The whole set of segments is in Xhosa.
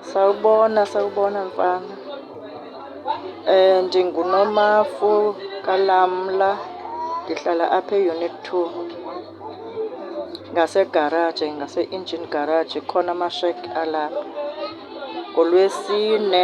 Sawubona, sawubona mfana. NdinguNomafu kaLamla, ndihlala apha e-unit two ngasegaraji, ngase-engine garage, kukhona amashegi alapho. NgoLwesine.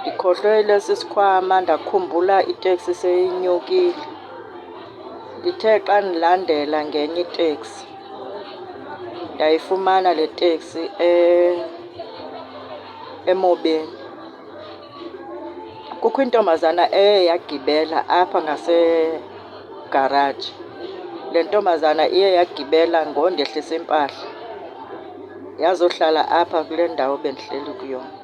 Ndikhohlwele sisikhwama ndakhumbula iteksi seyinyukile. Ndithe xa ndilandela ngenye iteksi ndayifumana le teksi eh, emobeni. Kukho intombazana eye yagibela apha ngasegaraji. Le ntombazana iye yagibela ngondehlisa impahla yazohlala apha kule ndawo bendihleli kuyona.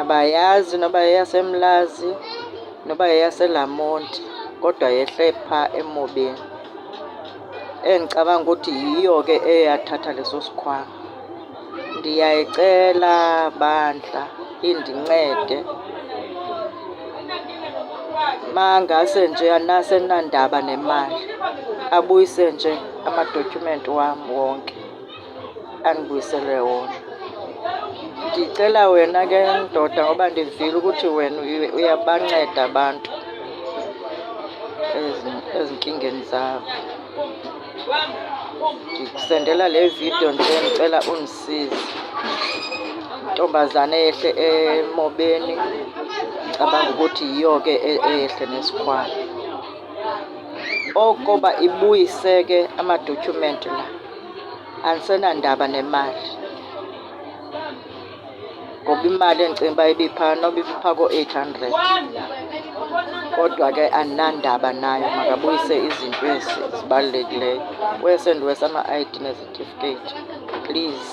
Abayazi noba yeyaseMlazi noba yeyaseLamonti kodwa yehle phaa emobeni. Endicabanga ukuthi yiyo ke eyathatha leso sikhwama. Ndiyayicela bandla indincede mangase nje nasenandaba nemali abuyise nje amadotyhumenti wam wonke. andibuyisele wona. Ndicela wena ke ndoda ngoba ndivile ukuthi wena uyabanceda abantu ezinkingeni zabo. Ndikusendela le vidiyo nje ndicela undisize. Intombazana eyehle emobeni cabanga ukuthi yiyo ke e-, eyehle nesikhwama. Okoba ibuyise ke amadotyhumenti la. andisenandaba nemali ngoba imali endicinga uba ibipha noba ibipha koo-eight hundred kodwa ke andinandaba nayo makabuyise izinto ezi zibalulekileyo wese ndiwesa ama-id nezitifiketi please